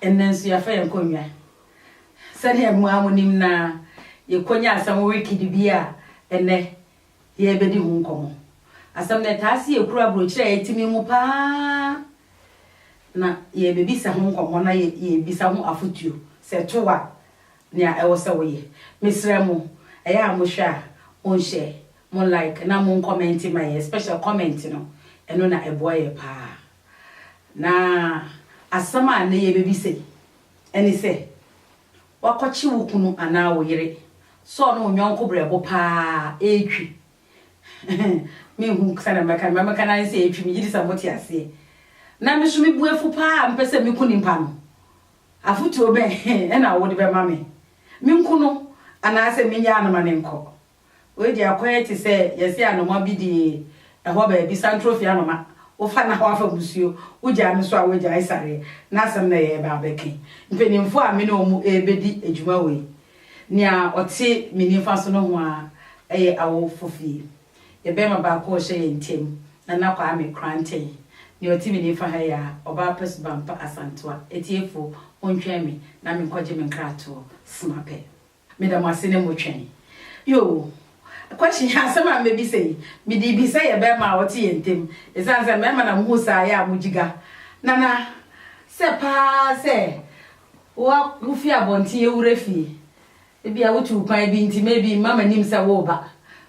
Ɛnnɛ nso yɛafa yɛn nkonnwa. Sɛnea mo ara munim no ara, yɛkɔnya asɛm wikidi bi a ɛnnɛ yɛrebɛdi ho nkɔmmɔ. Asɛm no, ɛtaa si akuro aburokyire a ɛtene mu pa ara, na yɛrebɛbisa ho nkɔmmɔ na yɛrebisa ho afotuo. Sɛ ɛto wo a, nea ɛwɔ sɛ woyɛ. Mesrɛ mo, ɛyɛ a mohwɛ a, monhyɛ, mo like na monkɔmɛnte ma yɛn, especially comment no, ɛno na ɛboa yɛn pa ara. Na asɛm a nnɛ yebebisa yi ne sɛ, Woakɔkye wo kunu anaa wo yere sɛ ɔne wo yɔnko berɛbo paa? Ɛretwi. Minhu sɛnea mɛka no, nea mɛka no ara ne sɛ ɛretwi. Megye di sɛ mote aseɛ. Na me nso mebu afu paa a mepɛ sɛ meku nipa no. Afotuo bɛn na wode bɛma me? Menku no anaasɛ mennyaa no ma no nkɔ? Wei deɛ akwan yi te sɛ yɛse anoma bi de ɛhɔ baabi santrofie anoma wofa na wafa musuo wogyaa no so a wagyae sareɛ na asɛm na yɛreba abɛka yi mpaninfoɔ a me ne wɔn rebɛdi adwuma wɔ yi nea ɔte me nifa so no ho ara ɛyɛ awofo fie yɛ bɛrima baako a ɔhyɛ yɛn ntam Nana Kwame Kranten nea ɔte me nifa ha yi ara ɔbaa pa suban pa Asantewa atiefoɔ montwɛn me na menkɔgye me nkratoɔ sma pɛ. Meda mo ase ne mo twɛn. Yoo question asɛm a mɛbisa yi mede bi sɛ yɛ bɛɛma a wɔte yɛn ntem ɛsiane sɛ mɛɛma na mohu saa yɛ a mo gyiga nana sɛ paa sɛ wa wo fi abɔnten awura fie ebia wo tuu kwan bi nti maybe mma manim sɛ wo ba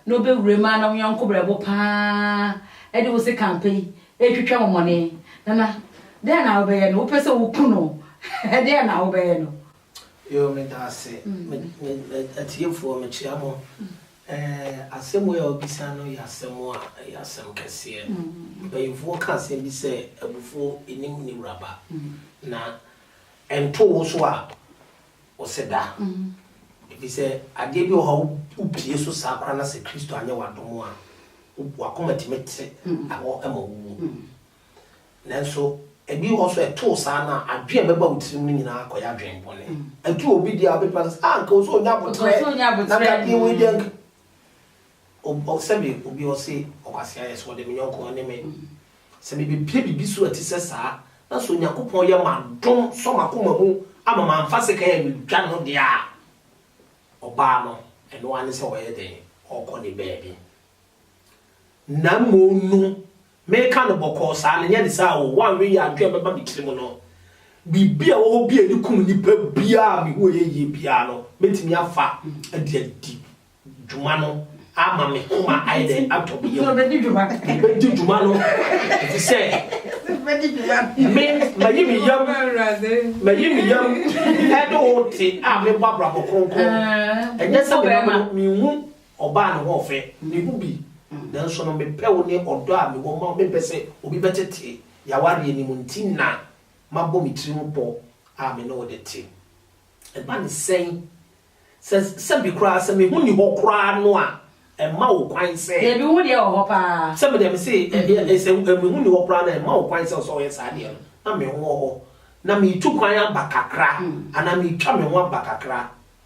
na ɔbɛwura mu a na wo yɔnko brɛbo paa de wo se kan pɛ yi ɛretwitwa wo mɔne nana dɛn na wo bɛyɛ no wo pɛ sɛ wo ku no dɛn na wo bɛyɛ no. Yoo medaase me me atiefoɔ mekyea mo ɛɛ asɛm wei a wabisa no yɛ asɛm a ɛyɛ asɛm kɛseɛ mpaninfoɔ ka asɛm bi sɛ abufuo ɛnim ne wura ba na ɛnto wo so a wo se da ɛfiri sɛ adeɛ bi wɔ hɔ a wo pie so saa koraa na sɛ Kristo anyɛ w'adom a wakoma tumi te awɔ ma wo wuo. Nanso ebi wɔ hɔ nso a ɛtoo saa no a, adwene a ɛbɛba wo tirim no nyinaa akɔyɛ adwene bɔne. Ɛto obi deɛ a, wobɛtumi aka sɛ, ah, anka ɔsɛ ɔnya aboterɛ, na me adeɛ wei deɛ anka. Sɛbe obi ɔse, ɔkwasea yɛ sɛ ɔde me yɔnko ɔne me. Sɛ mebɛpue biribi so a ɛte sɛ saa, na sɛ Onyankopɔn yɛ m'adom sɔ m'akoma mu ama mamfa sekan ammɛdwa no deɛ a, ɔbaa no, ɛno ara ne sɛ ɔyɛ dɛn? Ɔrekɔ ne baabi. Na mmom no, Meka no bɔkɔɔ saa no, nyɛ ne saa oo, wanwe yɛ adwene a ɛbɛba me tiri mu no. Biribi a ɛwɔ hɔ bi a ɛde kum nnipa biara a mehu ɛyɛ yie biara no, mɛtumi afa de adi dwuma no ama me homa ayɛ dɛn? Atɔ me yam. Mɛdi dwuma no efisɛ me, mayi me yam, mayi me yam ɛne wo te a mebɔ abrabɔ kronkron. Ɛnyɛ sɛ menam no, menhu Ɔbaa ne hoɔfɛ, me ho bi, nanso no mepɛ wo ne ɔdɔ a mewɔ ma wo, mempɛ sɛ obi bɛtete y'awareɛ no mu nti na mabɔ me tiri ho pɔ a me ne wo de te. Ɛba ne sɛn? Sɛ sɛbe koraa sɛ me ho nni hɔ koraa no a ɛmma wo kwan sɛ. Dabi, wo ho deɛ wɔ hɔ paa. Sɛbe deɛ me se ɛ, sɛ me ho nni hɔ koraa no a ɛmma wo kwan sɛ wo sɛ wo yɛ saa deɛ no, na me ho wɔ hɔ, na meretu kwan aba kakra anaa meretwa me ho aba kakra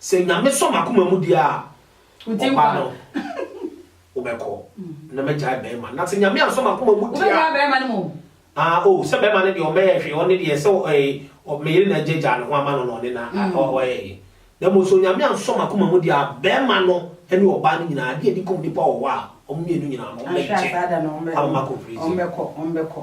Sɛ Nyame sɔ m'akoma mu deɛ a, ɔbaa no wobɛkɔ na mɛgyae bɛɛma. Na sɛ Nyame ansɔ m'akoma mu deɛ a. Wobɛgyae bɛɛma no mu? Ah oh, sɛ bɛɛma no deɛ ɔmmɛyɛ hwee, ɔne deɛ sɛ eh, me yere na agya gyaa ne ho ama no na ɔne na mm. ɔyɛ ye. Na mmom sɛ Onyame ansɔ m'akoma mu deɛ a, bɛɛma no ne ɔbaa no nyinaa, adeɛ a ɛdi kɔm nipa wɔ hɔ a, wɔn mmienu nyinaa no, wɔn bɛgye ama m'akɔ prison. Wɔn bɛkɔ, wɔn bɛkɔ.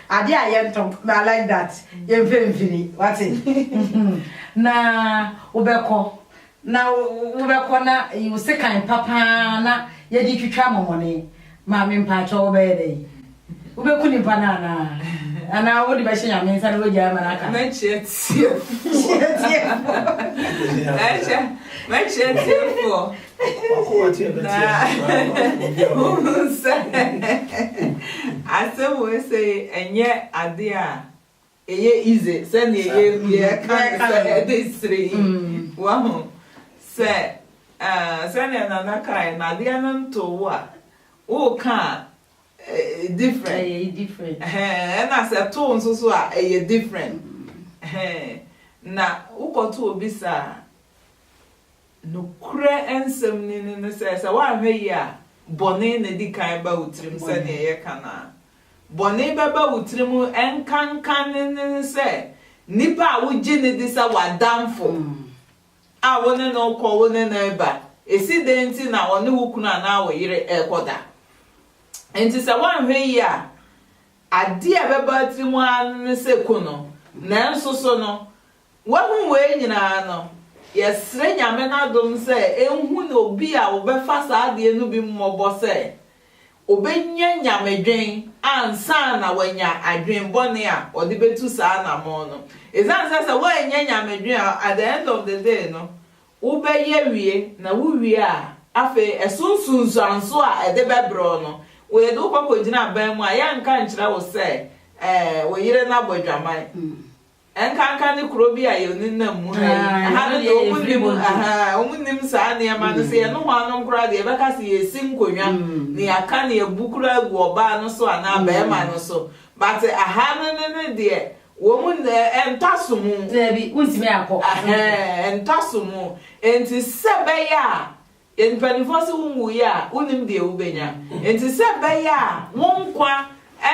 Ade a yɛntɔ me I like that yɛnfɛ mfiri wate na wobɛkɔ na wobɛkɔ na yiwo sekan pa paa na yɛde twitwa amɔmɔne maame mpakyɛw wobɛyɛ dɛ yi wobɛku nipa no anaa anaa wode bɛhyɛ nyame nsa na wagyae ma no aka mɛkyerɛ tiefoɔ mɛkyerɛ tiefoɔ Na wohu sɛ asɛm wei sei ɛnyɛ adeɛ a ɛyɛ easy sɛdeɛ yɛka no sɛ ɛde sere yi. Wahu sɛ sɛdeɛ Nana kaeɛ no adeɛ no ntoo wo a, woreka a different. Ɛna sɛ ɛtoo nso so a ɛyɛ different. Na wokɔto obi saa a, Nokorɛ nsɛm no ni ne sɛ, sɛ woanhwɛ yie a, bɔne na ɛdi kan ba wo tirim sɛdeɛ yɛka no ara. Bɔne bɛba wo tirim nkanka ne ne ne sɛ, nipa a wogye no di sɛ w'adamfo a wo ne no rekɔ, wo ne no reba, ɛsi dɛn nti na ɔne wo kunu anaa wo yere rekɔda? Enti sɛ woanhwɛ yie a, adeɛ a ɛbɛba wo tirim ara ne ne sɛ ku no. Nanso so no, Woahu wei nyinaa no, yɛsrɛ Nyame n'adom sɛ ɛnhunu obi a ɔbɛfa saa adeɛ no bi mmɔbɔ sɛ ɔbɛnya Nyamedwen ansa na wanya adwen bɔne a ɔde bɛtu saa anamɔn no. Ɛsiane sɛ sɛ woannya Nyamedwen a, at the end of the day no, wobɛyɛ wie, na wo wie a, afei ɛso nsunsuansoɔ a ɛde bɛbrɛ wo no, wɔde wo kɔkɔgyina aban mu a yɛnka nkyerɛ wo sɛ wo yere no abɔ adwaman. Ɛnkanka ne kuro bi a yɛnenam mu ha yi. Ɛha no deɛ wɔn nnim, ahaa, wɔn nnim saa nneɛma no. Sɛ yɛne wɔn anom koraa deɛ, yɛbɛka sɛ yɛresi nkonnwa na yɛaka na yɛabu koraa agu ɔbaa no so anaa barima no so. But aha no ne no deɛ, wɔn, ɛntɔ somu. Daabi, wontumi nkɔ. Ahaa, ɛntɔ somu. Enti sɛ ɛbɛyɛ a. Mpanimfoɔ se wonwuiɛ a, wonnim deɛ wobɛnya. Enti sɛ ɛbɛyɛ a wo nkwa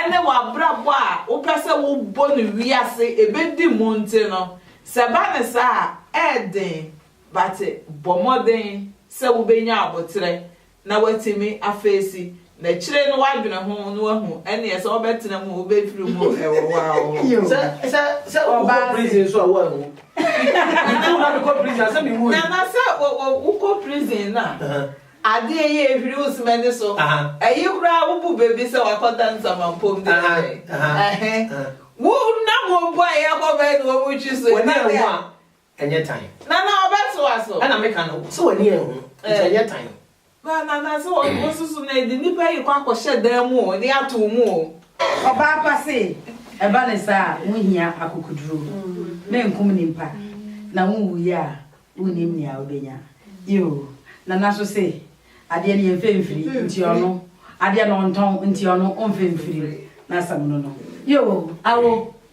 ne w'abrabɔ a wopɛ sɛ wobɔ no wiase ɛbɛdi mu nti no, sɛ ɛba no saa a, ɛyɛ den, but bɔ mmɔden sɛ wobɛnya aboterɛ na woatumi afeesi na akyire no woadwene ho na woahu ɛneɛ sɛ wobɛtena mu wobɛfiri mu ɛwɔ wo ara wo ho sɛ sɛ sɛ wokɔ prison so a woanhu metu na mekɔ prison a sɛ mewu nana sɛ wokɔ prison no a adeɛ yɛ ɛhwiri wo semani so ɛyi koraa wobu baabi sɛ wakɔda nsamampom de ɛhɛ wo nam wɔbɔ a yɛkɔ bɛɛ na wɔmu twi so ɛnɛ a Ɛnyɛ tan. Nana ɔbɛtoa so. Ɛna meka no sɛ w'ani anhu nti ɛnyɛ tan. Ba Nana sɛ wosusu no ɛde nnipa yi kɔ akɔhyɛ dan mu o de ato wo mu o. Ɔbaa pa se ɛba ne saa a wo hia akokoduro me nkum nipa na wo wu yɛ a wo nim nea wo bɛnya yoo Nana nso se adeɛ no yɛ nfɛ mfiri nti ɔno adeɛ no ɔntɔn nti ɔno ɔnfɛ mfiri n'asɛm no no yoo awo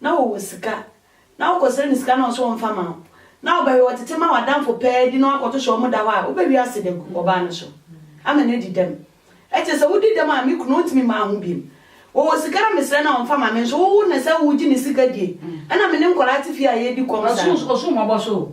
na wɔwɔ sika, na wokɔsrɛ no sika na ɔse ɔmfa mma wo, na ɔbɛwe ɔtete ma w'adamfo pɛɛ di na wakɔto so ɔmo da hɔ a, wobɛwe ase de agu ɔbaa no so ama no adi dɛm? Ɛkyerɛ sɛ wodi dɛm a me kunu ɔntumi mma ho biom. Wɔwɔ sika na mesrɛ no a ɔmfa mma me nso, wo wo na sɛ wogye ne sika die a na me ne nkwadaa te fie a yɛredi kɔm saa. Ɔsoro mmɔbɔ so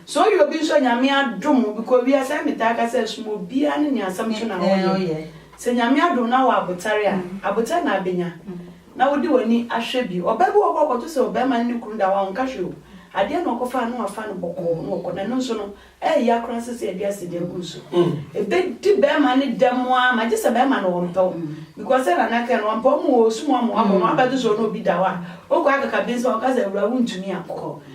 Sɛ ɔyɛ obi nso a Nyame adom obi kɔ wiase sɛdeɛ metaa ka sɛ som obiara ne nea asɛm to na ɔyɛ. Sɛ Nyame adom na wɔ abotare a, abotare na abɛnya na wode w'ani ahwɛ bi. Ɔbaa bi wɔ hɔ a ɔkɔto sɛ ɔbarima ne ne kunu da hɔ a ɔnka hwee o, adeɛ na ɔkɔfa a na wafa no bɔkɔɔ na ɔkɔ na ɛno nso no ɛɛya koraa sɛ sɛ yɛde asidi agu no so. Ɛbɛdi barima no dɛm ara ma gyesɛ barima no ɔmpɛ wo because sɛ Nana kae no ɔmpɛ wo ma ɔsum wo ama woabɔ no, woabɛto sɛ ɔne obi da hɔ a wokɔ akaka bensɛm a ɔka sɛ awuraa wontumi ankɔ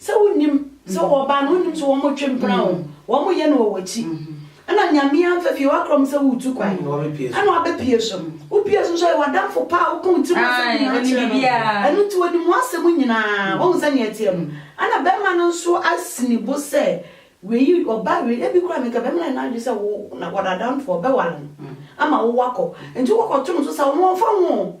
Sɛ wonnim, sɛ wɔwɔ baa no, wonnim sɛ wɔretwe mpena o, wɔreyɛ no wɔ w'akyi. Ɛna Nyame amfa fie w'akorɔ mu sɛ woretu kwan, ɛna wabɛpue so. Wopue so nso ɔyɛ w'adamfo pa a woka wo tirim asɛm nyinaa kyerɛ no. Ɛno nti onim w'asɛm nyinaa, wahu sɛnea ɛteɛ no. Ɛna bɛrima no nso asi ne bo sɛ wei, ɔbaa wei, ebi koraa meka bɛrima no ayɛ n'adwene sɛ wo na wɔdadamfo, ɔbɛware no ama wo wakɔ. Nti wokɔto no so sa wo ho a, ɔmfa wo ho o.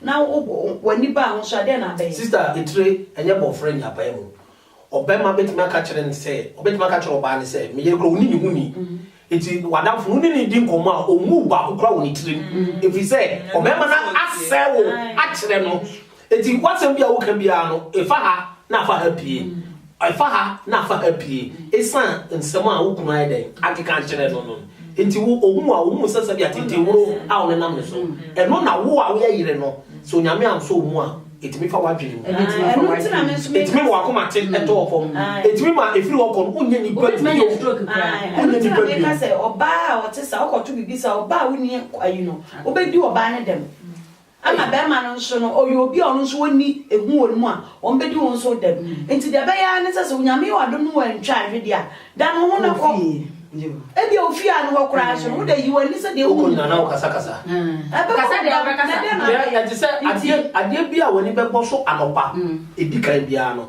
Na wo bo w'ani baa ho so a, dɛn na abɛyɛ? Sista Etire, Ɛnyɛ bɔfrɛ ni apae mu. Ɔbarima bɛtumi aka kyerɛ no sɛ, ɔbɛtumi aka kyerɛ ɔbaa no sɛ, me yere koraa ɔnni ne ho nni. Enti w'adamfo no, wo ne no di nkɔmmɔ a, ɔmmu wo baako koraa wɔ ne tirim. Ɛfiri sɛ, ɔbarima no asɛe wo akyerɛ no. Enti w'asɛm biara a woka biara no, fa ha na fa ha pue. Ɛfa ha na fa ha pue esiane nsɛm a wo kunu ayɛ dɛn akeka akyerɛ no no nti. Wo ohuu a, ohuu sɛ sɛbea tenten horow a ɔnenam ne so ɛno na wo a woyɛ yere no, sɛ Onyame ansɔ wo mu a, etumi fa w'adwene mu. Etumi ma w'akomaten tɔ fam. Etumi ma efiri hɔ kɔ no, wonyɛ nnipa bio. Wonyɛ nnipa bio. Sɛ ɔbaa a ɔte saa, wokɔto biribi saa a, ɔbaa a wonni ayi no, wobedi ɔbaa no dɛm? Ɛna bɛɛma no nso no ɔyɛ obi a ɔno nso wɔnni ehu wɔ ne mu a wɔbɛdi ho nso dɛm. Nti deɛ ɛbɛyɛ ara ne sɛ sɛ Onyame yɛ w'adom no wantwa anhwe deɛ a, da ne ho na kɔ. Ebia wo fie a ne hɔ koraa nso no, wo dɛ yi w'ani sɛ deɛ wohu. Wokɔ nyina na wokasakasa. Ɛbɛkɔ Kasa deɛ wobɛkasa. Ɛte sɛ adeɛ, adeɛ bi a w'ani bɛbɔ so anɔpa edikan biara no,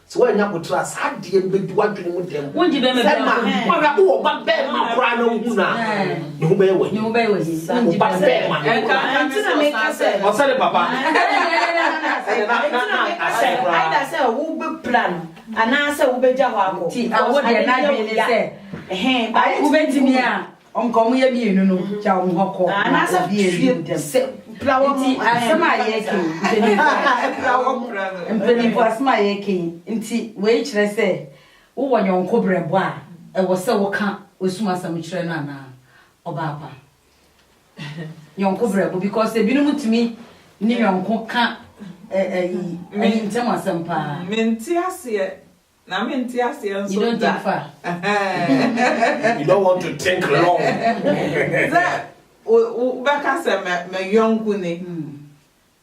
Sɛ woannya aboterɛ a, saa adeɛ no bɛdi w'adwene mu dɛm sɛ ma wobɛhwɛ wo ɔba bɛrima koraa na wohu no a ne ho bɛyɛ w'ahi wo ba bɛrima no ɔsɛ ne papa aida sɛ wobɛpira no anaasɛ wobɛgya hɔ akɔ wobɛtumi a Ɔnka ɔmo yɛ mmienu no gya ɔmo hɔ kɔ na obi edi mu dɛm. Nti asɛm a yɛreka yi mpanyinfoɔ mpanyinfoɔ asɛm a yɛreka yi nti wei kyerɛ sɛ wowɔ yɔnko brɛbo a ɛwɔ sɛ woka osum asɛm kyerɛ no anaa ɔbaapa yɔnko brɛbo because ebinom tumi ne yɔnko ka ɛyi ɛyi ntɛm asɛm paa. Mente aseɛ Na me nte aseɛ nso da. You don't take far. you don't want to think long. Sɛ wobɛka sɛ me yɔnko ni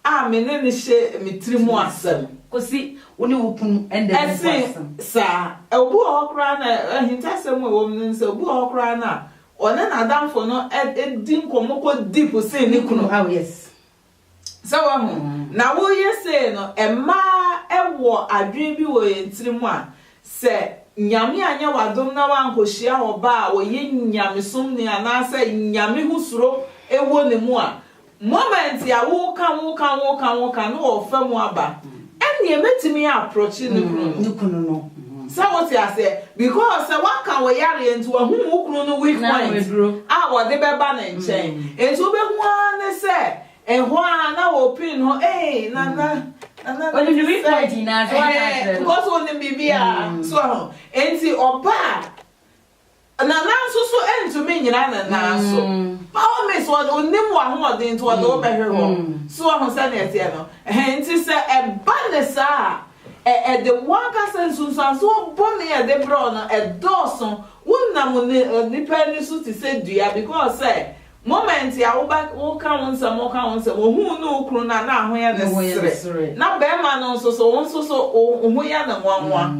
a me ne no hyɛ me tiri mu asɛm. Kɔsi wo ne wo kunu ɛnda mu asɛm. Ɛsen saa, obi wɔ hɔ koraa na ahintasɛm a ɛwɔ mu no sɛ obi wɔ hɔ koraa na ɔne n'adamfo no di nkɔmmɔ kɔ deep sen ne kunu. Oh yes. Sɛ wahu? Na woyɛ sei no, ɛma ɛwɔ adwene bi wɔ yɛn tirim a, sɛ Nyame anyɛ w'adom na woankɔhyia ɔbaa a ɔyɛ nyamesomni anaasɛ Nyame ho suro wɔ ne mu a, moment a woka, woka, woka, woka no ɔrefa mu aba. Ɛnneɛ mɛtumi aprɔkye ne kunu no. Ne kunu no. Sɛ wote aseɛ? Because sɛ waka wo yareɛ nti wahu wo kunu no weak point a ɔde bɛba ne nkyɛn. Nti wobɛhu ara ne sɛ ɛhɔ ara na ɔpin hɔ ee Nana, Nana Onim ne weak point nyinaa nti waka akyerɛ no. Ɛhɛɛ because onim biribiara. So ahu? Nti ɔbaa Na nanso so ɛrentumi nnyina ne nan so. By all means, ɔde, onim w'ahoɔden nti ɔde wo bɛhwe hɔ. So wahu sɛnea ɛteɛ no? Ɛhɛn, nti sɛ ɛba no saa a, ɛ, ɛde w'ankasa nsunsuansoɔ bɔne a ɛde brɛ wo no, ɛdɔɔso. Wonam ni, nipa ani so te sɛ dua because sɛ Moment a wo ba woka wo nsɛm ɔka wo nsɛm ohuu ne wo kunu no a na aho yɛ no sere na bɛɛma no nso so wo nso so wo ho yɛ no nwanwa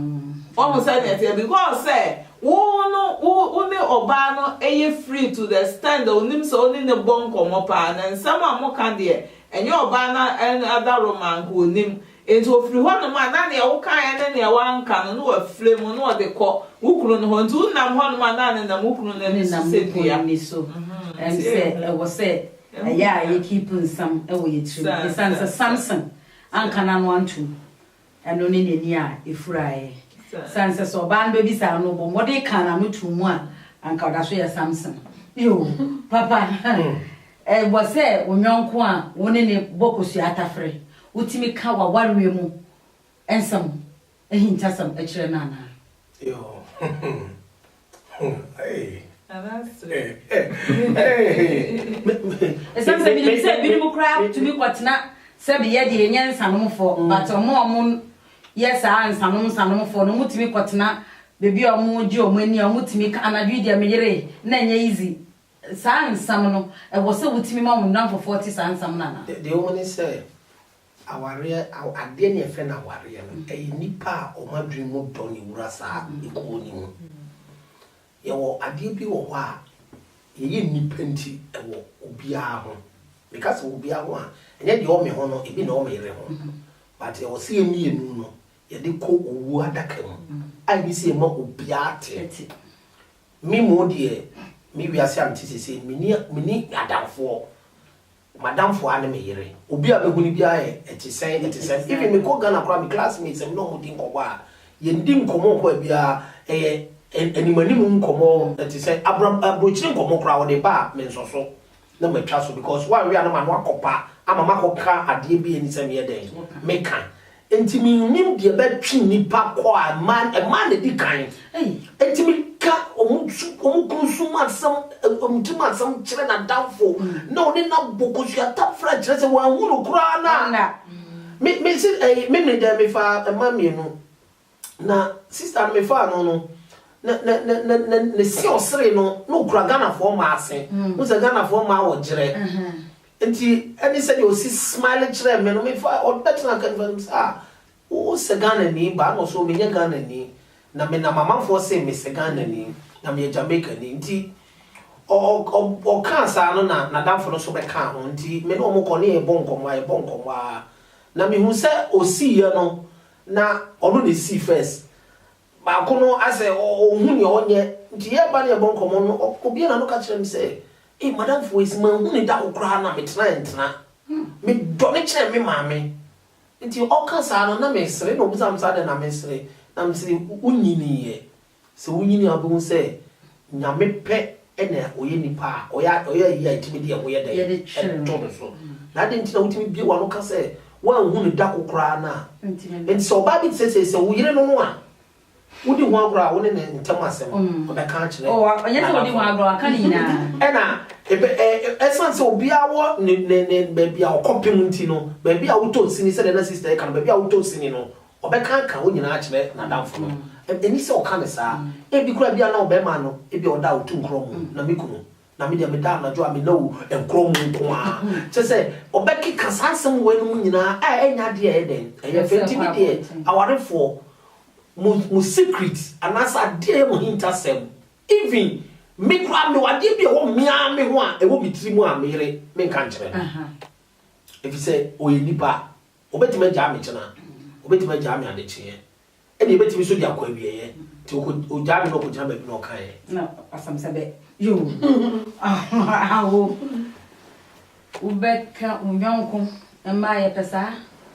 wahu sɛdeɛ ɛteɛ because sɛ wo no wo wo ne ɔbaa no ɛyɛ free to the extent that onim sɛ wo ne no bɔ nkɔmɔ paa na nsɛm a mo ka deɛ ɛnyɛ ɔbaa no adaworoma nka onim Enti ofiri hɔnom a, na nea wokaeɛ ne nea woanka no, na wafire mu, na ɔde kɔ wo kunu no hɔ. Enti wonam hɔnom a, na nenam wo kunu no ani so sɛ dua. Ɛm sɛ ɛwɔ sɛ ɛyɛ a yɛ keep nsɛm wɔ yɛ tiri mu ɛsiane sɛ Samson anka n'ano antom ɛno ne n'ani a ɛfuraeɛ ɛsiane sɛ sɛ ɔbaa no bɛbisa no na ɔbɔ mmɔden kaa n'ano too mu a anka ɔda so yɛ Samson yoo papa Ɛwɔ sɛ wo yɔnko a wo ne no bɔ kosua tafere wotumi ka w'awareɛ mu nsɛm ahintasɛm kyerɛ no anaa? Ɛsiane sɛ menim sɛ binom koraa tumi kɔtena sɛ meyɛ deɛ ɛnyɛ nsanomfoɔ but wɔn a wɔyɛ saa nsanom nsanomfoɔ no wɔtumi kɔtena baabi a wɔgye wɔn ani a wɔtumi ka anadwo yi deɛ meyeree na ɛnyɛ easy Saa nsɛm no, ɛwɔ sɛ wotumi ma wo nnamfofoɔ te saa nsɛm no anaa? Deɛ wɔn ne sɛ, awareɛ, adeɛ ne yɛfrɛ no awareɛ no, ɛyɛ nnipa a wɔn adwene mu dɔ ne wura saa ekuo no mu. Yɛwɔ adeɛ bi wɔ hɔ a, yɛyɛ nnipa nti ɛwɔ obiara ho. Meka sɛ obiara ho a, ɛnyɛ deɛ ɔwɔ me ho no, ebi na ɛwɔ me yere ho. But ɛwɔ sɛ yɛn mmienu no, yɛde kɔ owuo adaka mu a yɛne sɛ yɛma obiara te. Me mmom deɛ, me wiase a mete seesei no, menni menni adamfoɔ. M'adamfoɔ ara ne me yere. Obi a mehu no biara yɛ ɛte sɛn ɛte sɛn. Even mekɔ Ghana koraa, me classmates a me ne wɔn di nkɔmmɔ a, yɛndi nkɔmmɔ mpo a biara ɛyɛ anim anim nkɔmmɔ, ɛte sɛ abura aburokyire nkɔmmɔ koraa wɔde ba me nsɔ so. na matwa so because wanwe a na m'ano akɔ pa ama makɔ ka adeɛ bi a ɛni sɛ meyɛ dɛn meka nti mennim deɛ bɛtwe nnipa kɔ a ɛmaa na di kan nti meka wɔn kunu su mu asɛm wɔn ti mu asɛm kyerɛ n'adamfo na ɔne na bɔ kosua tafra kyerɛ sɛ wɔanhu no koraa na me me se ɛyi me me dɛn mefa mma mmienu na sister no me faa no no na na na na na ne se ɔsere no na okura ghanafoɔ mmaa se mm. mo sɛ ghanafoɔ mmaa wɔ gyerɛ nti ɛne sɛ deɛ ɔsi smile kyerɛ me no me fa ɔbɛtena ka nifa no sɛ ah wo sɛ ghana ni baa na ɔsɛ ɔmenyɛ ghana ni na me na mamanfoɔ se me sɛ ghana ni na meyɛ jamaica ni nti ɔkaa saa no na nadamfo no so bɛkaa ho nti me ne ɔmo kɔ ne yɛbɔ nkɔmmɔ a yɛbɔ nkɔmmɔ a na mehu sɛ ɔsiiɛ no na ɔno na esii first baako no asɛ ɔnhu nea ɔnyɛ nti yɛba na yɛbɔ nkɔmmɔ no ɔbue n'ano ka kyerɛ me sɛ ei madam Foesi manhu ne da wo koraa na metena ntena me dɔ no kyɛn me maame nti ɔka saa no na mesere na ɔbisa me sɛ adɛn na mesere na mese wonyiniiɛ Sɛ wunyin a wubehu sɛ Nyame pɛ na ɔyɛ nnipa a ɔyɛ ayi a etumi de ɛho yɛ dɛn to no so. Na adɛn nti na wutumi bue w'ano ka sɛ woanhu no da ko koraa no a? Enti sɛ ɔbaa bi te sɛ sɛ wo yere no no a wodi ho agorɔ a, wo ne ne ntam asɛm ɔbɛka akyerɛ n'adamfo. Ɛna ɛsiane sɛ obiara wɔ ne baabi a ɔkɔpem nti no, baabi a wotɔ sini, sɛdeɛ na sista yi ka no, baabi a wotɔ sini no, Ɔbɛkanka wo nyinaa akyerɛ n'adamfo no. Enni sɛ ɔka no saa. Ebi koraa ebia na ɔbarima no ebia ɔda a otu nkorɔw mu na me kunu, na me deɛ meda anadwo a menna o nkorɔw mu nko ara. Kyerɛ sɛ, ɔbɛkeka saa nsɛm wei nom nyinaa a ɛnyɛ adeɛ a ɛyɛ dɛn? Ɛyɛ fɛ. Nti me deɛ, awarefoɔ, mo mo secret anaasɛ adeɛ a ɛyɛ mo ahintasɛm, even me koraa mewɔ adeɛ bi a ɛwɔ me ara me ho a ɛwɔ me tiri mu a me yere menka nkyerɛ no. Efisɛ ɔyɛ nipa, Wɔbɛtumi agyaa me kyena, wɔbɛtumi agyaa me adekyeeɛ, ɛnna yɛbɛtumi nso de akɔ awieeɛ. Nti ɔkɔ, ɔgyaa me na ɔkɔgyina baabi na ɔkaeɛ. Na ɔsam sɛ bɛ, yoo, awo, wobɛka wo yɔnko. Mmaa, yɛpɛ saa.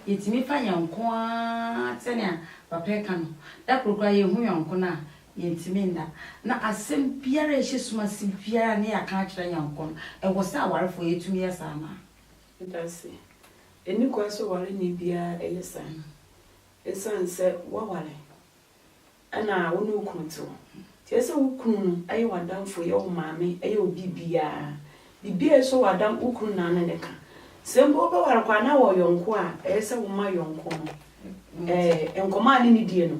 Yɛtumi fa yɛn nko ara sɛnea papa yi ka no. Da koro koraa yɛhu yɔnko no a, yɛntumi nna. Na asɛm biara a ɛhyɛ sum ase biara a na yɛaka akyerɛ yɛn nko no, ɛwɔ sɛ awarefoɔ yɛtumi yɛ saa ma. Dase. Enni kwan sɛ ɔwareni biara yɛ saa. Esiane sɛ woaware na wo ne wo kunu te hɔ nti, ɛsɛ sɛ wo kunu no yɛ w'adamfo, yɛ wo maame, yɛ wo biribiara. Biribiara a ɛsɔ w'adam, wo kunu na ne ne ka. Sɛ mpo wobɛware koraa na wɔ yɔnko a, ɛyɛ sɛ woma yɔnko no nkɔmmɔ a ne ne die no,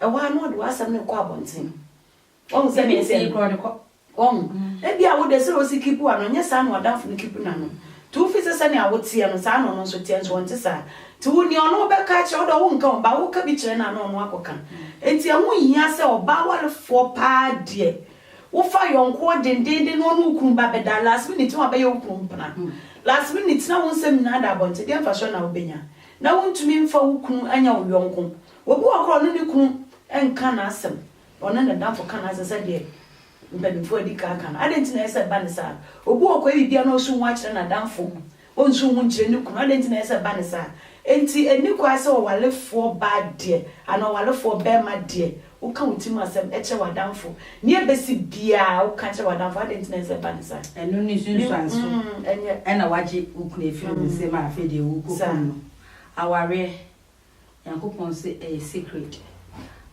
Ɛhɔ ara na ɔde w'asɛm no rekɔ abɔnten. Wahu sɛ ne nsɛm korɔ de kɔ. Wahu? Ebi a wo de sɛdeɛ wosi kipu ano, nyɛ saa na w'adamfo no kipu n'ano. Nti wofi sɛ sɛnea wo teɛ no, saa na ɔno nso teɛ, nso ɔnte saa. Nti wo nea ɔno bɛka akyerɛ wo deɛ wonka ho, but woka bi kyerɛ no a na ɔno akɔka. Nti ɛho nhia sɛ ɔbaa awarefoɔ paa deɛ, wofa yɔnkoɔ dendeenden na ɔne wo kunu ba bɛda, last minute na wabɛyɛ wo kunu mpena. Last minute na wo nsɛm nyinaa ada abɔnten, deɛ mfasoɔ na wobɛnya? Na wontumi mfa wo kunu anya wo yɔnko, Obi wɔ hɔ koraa a ɔne ne kunu nka n'asɛm, ɔne ne dafo ka n'asɛm sɛdeɛ mpanimfoɔ adi kan aka no. Adɛn nti na ɛyɛ sɛ ɛba no saa? Obi wɔ hɔ koraa a ɛyɛ biribi a na ɔnso nhu akyerɛ n'adamfo, ɔnso nhu nkyerɛ ne kunu. Adɛn nti na ɛyɛ sɛ ɛba no saa? Enti ɛnni kwan sɛ ɔwarefoɔ baa deɛ anaa ɔwarefoɔ barima deɛ, woka wo tirim asɛm kyerɛ w'adamfo. Nea ɛbɛsi biara woka kyerɛ w'adamfo. Adɛn nti na ɛyɛ sɛ ɛba no saa? Ɛno ne nsunsuanso na woagye wo kunu afiri wo nsam a afei deɛ worekɔkum no. Awareɛ. Nyankopɔn se ɛyɛ sacred.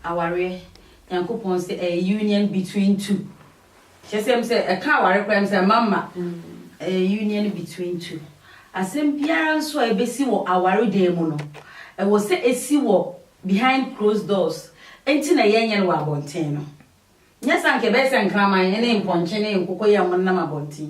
Awareɛ, Nyankopɔn se ɛyɛ union between two. Kyerɛ sɛ ɛm sɛ ɛka aware koraa ɛm sɛ ɛma mma. Ɛyɛ union between two. Asɛm biara nso a ɛbɛsi wɔ aware dan mu no, ɛwɔ sɛ ɛsi wɔ behind closed doors. Ɛnti na yɛnyɛ no wɔ abɔnten no. Nyɛ sɛ anka ɛbɛyɛ sɛ nkraman ne mpɔnkye ne nkokoyam nenam abɔnten.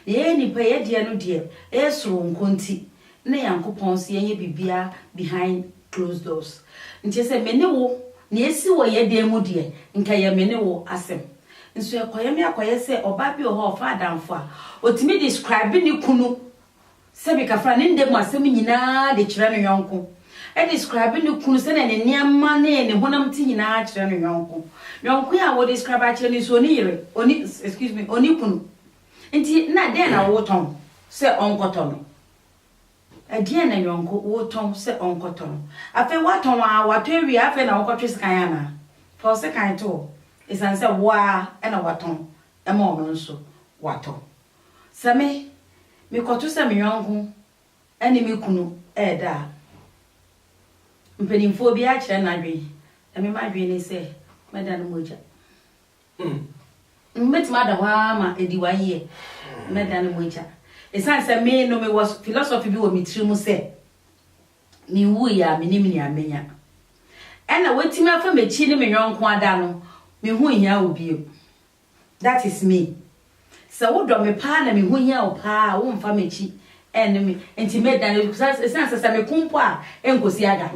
Nea ɛyɛ nnipa yi adeɛ no deɛ ɛyɛ soronko nti, ne Nyankopɔn se yɛnyɛ biribiara behind closed doors. Nti sɛ me ne wo, nea ɛsi wɔ yɛ dan mu deɛ, nka ɛyɛ me ne wo asɛm. Nso ɛkɔyɛ me akɔyɛ sɛ ɔbaa bi wɔ hɔ a ɔfa adamfo a, ɔtumi describe ne kunu Sɛbi ka fa ne nda mu asɛm nyina de kyerɛ no yɔnko. Describe ne kunu sɛdeɛ ne nneɛma ne ne honam te nyina kyerɛ no yɔnko. Yɔnko a wo describe akyerɛ no nso ɔni yere, ɔni, excuse me, ɔni kunu. Nti na dɛn na wo tɔn sɛ ɔnkɔ tɔ no? Ɛdeɛn na yɔnko wo tɔn sɛ ɔnkɔ tɔ no? Afei wa tɔn aa, wa tɔ awie aa afei na wo kɔ twe sekan anaa? Fa wo sekan to hɔ, ɛsiane sɛ wo aa na wa tɔn ma ɔno nso wa tɔ. Sɛ me, mekɔto sɛ me yɔnko ne me kunu reda a, mpanimfoɔ biara kyerɛ n'adwene, na me m'adwene ne sɛ mɛda no mogya. Hmm. Mɛtumi ada hɔ ara ma ɛdi one year, mɛda no mogya. Ɛsiane sɛ me no mewɔ philosophy bi wɔ me tiri mu sɛ, menwuiɛ a menim nea mɛnya. Ɛna watumi afa m'akyi ne me yɔnko ada no, me ho nhia wo bio. that is me. Sɛ wo dɔ me paa na me ho hia wo paa a, wo nfa m'akyi ɛnne me nti mɛ dane because ɛsan sɛ sɛ me ko mpo a ɛnkosi aga.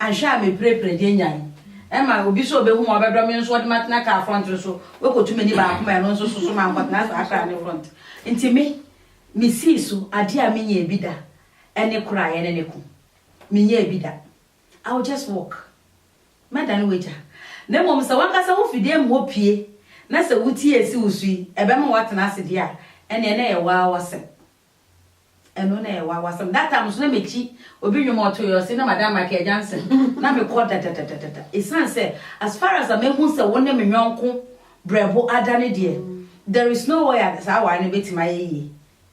Anhwɛ a me pire pire de anyan. Ɛma obi sɛ ɔbɛhu ma ɔbɛdɔ me nso ɔde m'atena car front no so wakotu m'ani baako ma ɛno nso soso ma nkɔtena saa car no front. Nti me, me sii so adeɛ a me nyaa bi da ɛne koro a ɛne ne ko. Me nyaa bi da. I will just walk. Mɛdane w'agya. Na mmom sɛ w'ankasa wufi dan mu hɔ pue na sɛ wutie a esi wo so yi, ɛbɛma woatena ase deɛ a, ɛnneɛ na ɛyɛ woaa w'asɛm. Ɛno na ɛyɛ woaa w'asɛm. That time nso na mekyi obi nnwom a ɔtoeɛ a ɔse na Madam Michael Johnson. Na mekɔ dadadadada. Ɛsiane sɛ as far as a mahu sɛ wo ne me yɔnko berɛbo ada no deɛ, there is no way a saa aware no bɛtumi ayɛ yie.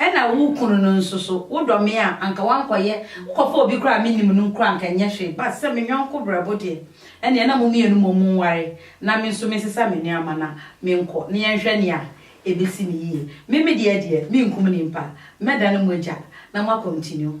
Ɛna wo kunu no nso so wodɔ me a anka woankɔyɛ wokɔfa obi koraa a mennim no nkura anka ɛnyɛ hwee but sɛ me yɔnko berɛbo deɛ ɛneɛ na mo mmienu mmom mo nware na me nso mensesa me nneɛma na menkɔ na yɛnhwɛ nea ɛbɛsi no yie me me deɛ deɛ menkum nimpa mɛdane mo agya na mo a continue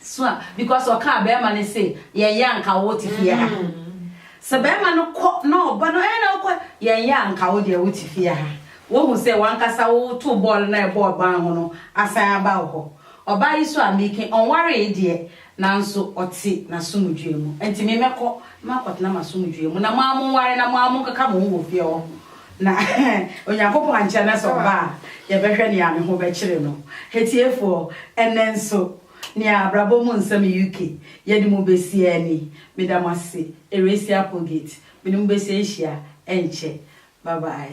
so a because ɔkaa bɛɛma no se yɛnyɛ a nka wote fie ha sɛ bɛɛma no kɔ na ɔba no ɛɛ na wokɔ yɛnyɛ a nka wodeɛ wote fie ha wohu sɛ wankasa woto bɔɔl na ɛbɔɔ ban ho no asan aba wo hɔ ɔbaa yi so a meke ɔnwaree deɛ nanso ɔte nasomdwoe mu ɛnti me mɛkɔ na makɔtena masomdwoe mu na mo a monware na mo a monkeka mo ho wɔ fie hɔ Na Onyankopɔn ankyɛ na sɛ ɔba a, yɛbɛhwɛ nea ne ho bɛkyere no. Atiefoɔ, ɛnnɛ nso, nea Abrabɔ mu Nsɛm UK yɛde mo besie ɛne, Meda mo ase, Erassia Applegate, mene mo besie nhyia ɛnkyɛ. Bye bye.